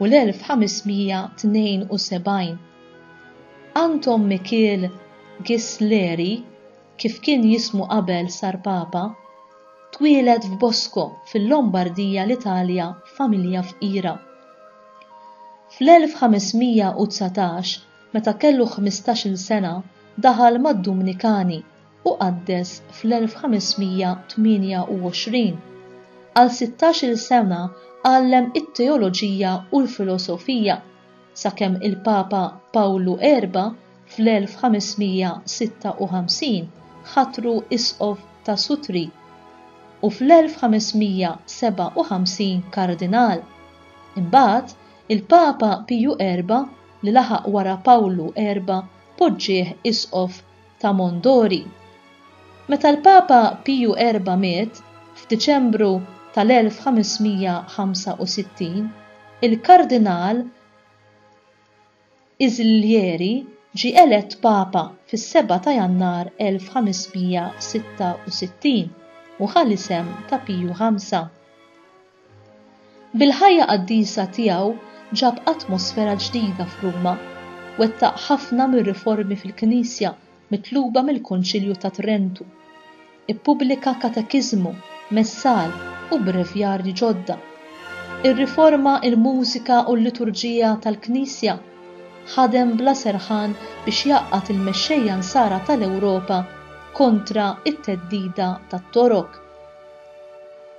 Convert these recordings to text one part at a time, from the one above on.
u l-1572. Anton Mikiel Ghisleri, kif kien jismu qabel sar Papa, twieled f'Bosco fil-Lombardija l-Italja f'familja fqira. Fl-1519, meta kellu ħmistax-il sena, daħal mad-Dumnikani u qaddes fl-1528. Għal 16-il sena għallem it-teoloġija u l-filosofija, sakemm il-Papa Pawlu Erba' fl-1556 ħatru Isqof ta' Sutri u fl-1557 Kardinal. Imbagħad, il-Papa Piju Erba' li laħaq wara Pawlu Erba' poġġieh Isqof ta' Mondori. Meta l-Papa Piju Erba' miet f'Diċembru tal-1565, il-Kardinal Islieri ġie elett Papa fis-Sebgħa ta' Jannar 1566 u ħa l-isem ta' Piju Ħamsa. Bil-ħajja qaddisa tiegħu ġab atmosfera ġdida f'Ruma. Wettaq ħafna mir-riformi fil-Knisja mitluba mill-Konċilju ta' Trentu. Ippubblika katekiżmu, messal, u brevjarji ġodda. Irriforma l-mużika u l-liturġija tal-Knisja. Ħadem bla serħan biex jgħaqqad il-mexxejja Nsara tal-Ewropa kontra t-theddida tat-Torok.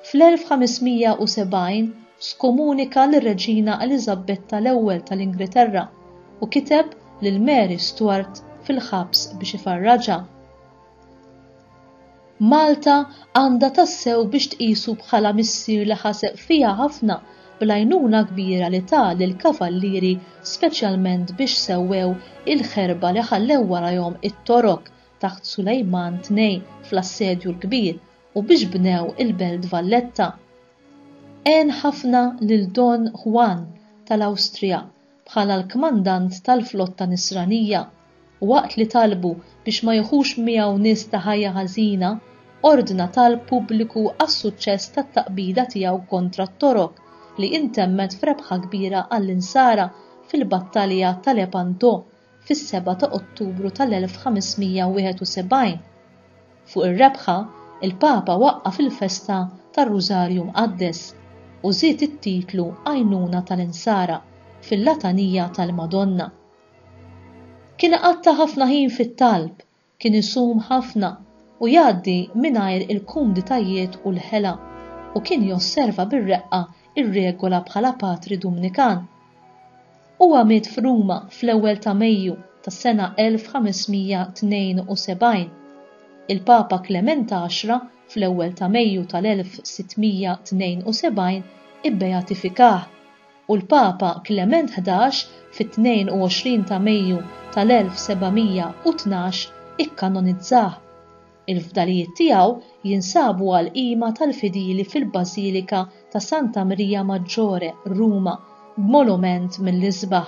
Fl-1570 skomunika lir-Reġina Eliżabbetta l-Ewwel tal-Ingilterra u kiteb lil Mary Stuart fil-ħabs biex ifarraġha. Malta għandha tassew biex tqisu bħala missier li ħaseb fiha ħafna bl-għajnuna kbira li ta lill-Kavallieri speċjalment biex sewwew il-ħerba li ħallew warajhom it-Torok taħt Sulejman Tnejn fl-Assedju l-Kbir u biex bnew il-Belt Valletta. Għen ħafna lil Don Juan tal-Awstrija bħala l-kmandant tal-flotta Nisranija, waqt li talbu biex ma jieħux miegħu nies ta' ħajja ħażina, ordna talb pubbliku għas-suċċess tat-taqbida tiegħu kontra t-Torok li intemmet f'rebħa kbira għall-Insara fil-Battalja ta' Lepanto fis-7 ta' Ottubru tal-1571. Fuq ir-rebħa, il-Papa waqqaf il-festa tar-Rużarju Mqaddes u żied it-titlu Għajnuna tal-Insara fil-Latanija tal-Madonna. Kien għatta ħafna ħin fit-talb Kien isum ħafna u jgħaddi mingħajr il-kumditajiet u l-ħela, u kien josserva bir-reqqa r-regola bħala patri Dumnikan. Huwa miet f'Ruma fl-ewwel ta' Mejju tas-sena 1572. Il-Papa Klement Għaxra fl-ewwel ta' Mejju tal-1672 ibbeatifikah. u l-Papa Klement Ħdax fit-22 ta' Mejju tal-1712 ikkanonizzah. Il-fdalijiet tiegħu jinsabu għall-qima tal-fidili fil-Bażilika ta' Santa Mrija Maggiore, Ruma, b'molument mill-isbaħ.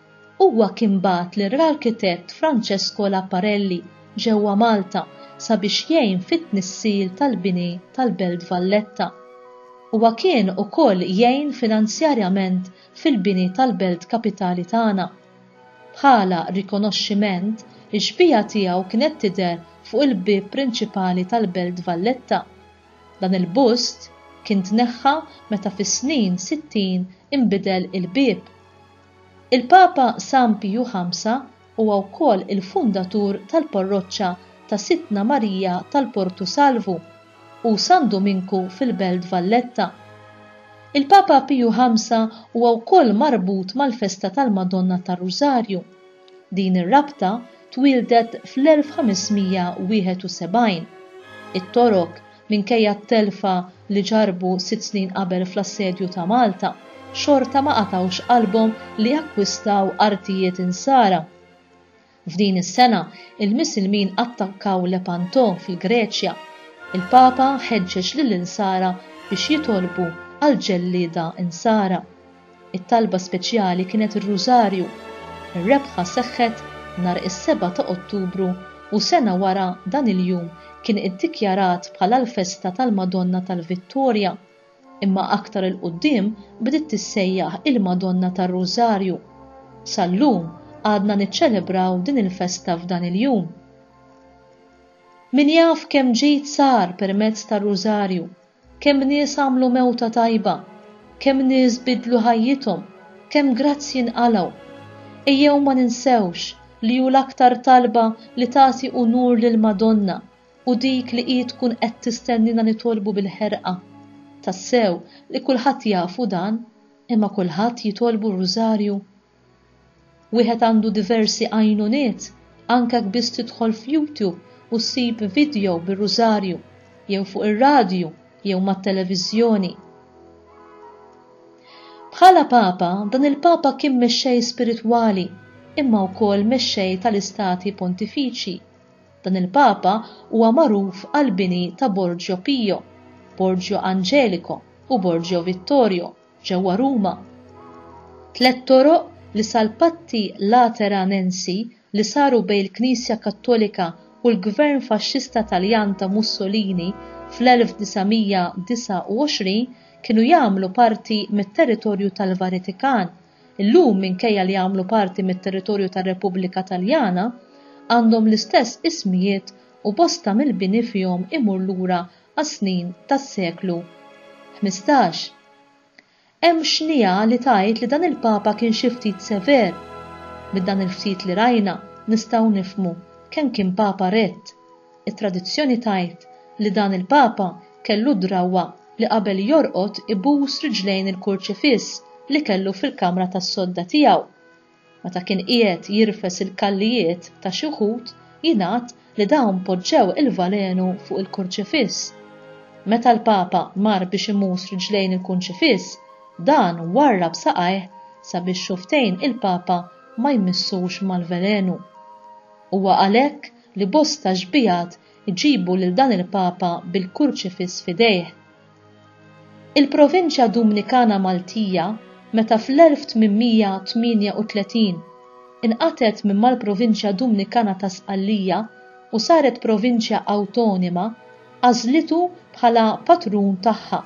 Huwa kien bagħat lir-arkitett Francesco Laparelli ġewwa Malta sabiex jgħin fit-tnissil tal-bini tal-Belt Valletta. Huwa kien ukoll jgħin finanzjarjament fil-bini tal-Belt Kapitali tagħna. Bħala rikonoxximent, ix-xbieha tiegħu kienet tidher fuq il-bieb prinċipali tal-Belt Valletta. Dan il-bust kien tneħħa meta fis-snin sittin inbidel il-bieb. Il-Papa San Piju Ħamsa huwa wkoll il-fundatur tal-Parroċċa ta' Sidtna Marija tal-Portu Salvu u San Duminku fil-Belt Valletta. Il-Papa Piju Ħamsa huwa wkoll marbut mal-festa tal-Madonna tar-Rużarju. Din ir-rabta twieldet fl-1571. It-Torok, minkejja t-telfa li ġarrbu sitt snin qabel fl-assedju ta' Malta, xorta ma qatgħux qalbhom li jakkwistaw artijiet Insara. F'din is-sena, il-Misilmin attakkaw Lepanto fil-Greċja. Il-Papa ħeġġeġ lill-Insara biex jitolbu għal ġellieda Insara. It-talba speċjali kienet ir-Rużarju. Ir-rebħa seħħet nhar is-seba' ta' Ottubru u sena wara dan il-jum kien iddikjarat bħala l-festa tal-Madonna tal-Vittorja, imma aktar 'il quddiem bdiet tissejjaħ il-Madonna tar-Rużarju. Sal-lum għadna niċċelebraw din il-festa f'dan il-jum. Min jaf kemm ġid sar permezz tar-Rużarju! Kemm nies għamlu mewta tajba, kemm nies biddlu ħajjithom, kemm grazzji nqalgħu. Ejjew ma ninsewx li hu l-aktar talba li tagħti unur lill-Madonna u dik li hi tkun qed tistennina nitolbu bil-ħerqa. Tassew li kulħadd jafu dan, imma kulħadd jitolbu r-Rużarju? Wieħed għandu diversi għajnuniet, anke jekk biss tidħol f'Youtube u ssib vidjow bir-Rużarju, jew fuq ir-radju, jew mat-televiżjoni. Bħala Papa, dan il-Papa kien mexxej spiritwali, imma wkoll mexxej tal-Istati Pontifiċi. Dan il-Papa huwa magħruf għall-bini ta' Borgio Pio, Borgio Angelico u Borgio Vittorio. ġewwa Ruma. Tliet toroq li sal-patti Lateranensi li saru bejn il-Knisja Kattolika u l-Gvern Faxxista Taljan ta' Mussolini fl-1929 kienu jagħmlu parti mit-territorju tal-Varitikan, illum minkejja li jagħmlu parti mit-territorju tar-Repubblika Taljana, għandhom l-istess ismijiet u bosta mill-bini fihom imur lura għas-snin tas-seklu ħmistax. Hemm xniegħa li tgħid li dan il-Papa kien xi ftit sever. Minn dan il-ftit li rajna nistgħu nifhmu kemm kien Papa rett. It-tradizzjoni tgħid li dan il-Papa kellu d-drawwa li qabel jorqod ibus riġlejn il-kurċifiss li kellu fil-kamra tas-sodda tiegħu. Meta kien qiegħed jirfes il-kallijiet ta' xi wħud, jingħad li dawn poġġew il-valenu fuq il-kurċifiss. Meta l-Papa mar biex imus riġlejn il-kunċifiss, dan warrab saqajh sabiex xufftejn il-Papa ma jmissux mal-velenu. Huwa għalhekk li bosta xbigħat iġibu lil dan il-Papa bil-kurċifiss f'idejh. Il-Provinċja Dumnikana Maltija meta fl-1838 inqatgħet minn mal-Provinċja Dumnikana ta' Sqallija u saret Provinċja Awtonima għażlitu bħala patrun tagħha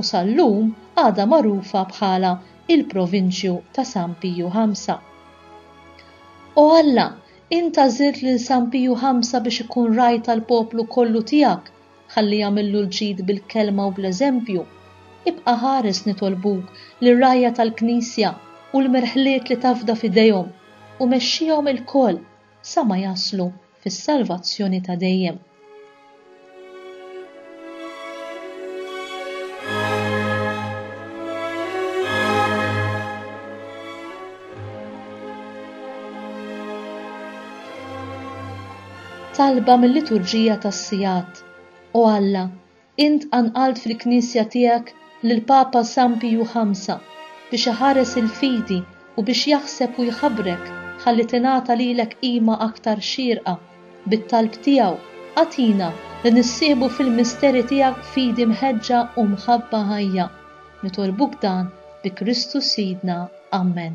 u sal-lum għadha magħrufa bħala il-Provinċju ta' San Piju Ħamsa. O Alla, int għażilt lil San Piju Ħamsa biex ikun Ragħaj tal-poplu kollu tiegħek Ħalli jagħmillu l-ġid bil-kelma u bl-eżempju. Ibqa' ħares nitolbuk lir-rgħajja tal-Knisja u l-merħliet li tafda f'idejhom u mexxihom ilkoll sa ma jaslu fis-salvazzjoni ta' dejjem. Talba mil-Liturġija tas-Sigħat, O Alla, int qanqalt fil-Knisja tiegħek lill-Papa San Piju Ħamsa biex iħares il-fidi u biex jaħseb u jħabrek ħalli tingħata lilek qima aktar xierqa, bit-talb tiegħu, agħtina li nissieħbu fil-misteri tiegħek b'fidi mħeġġa u mħabba ħajja. Nitolbuk dan bi Kristu Sidna. Amen.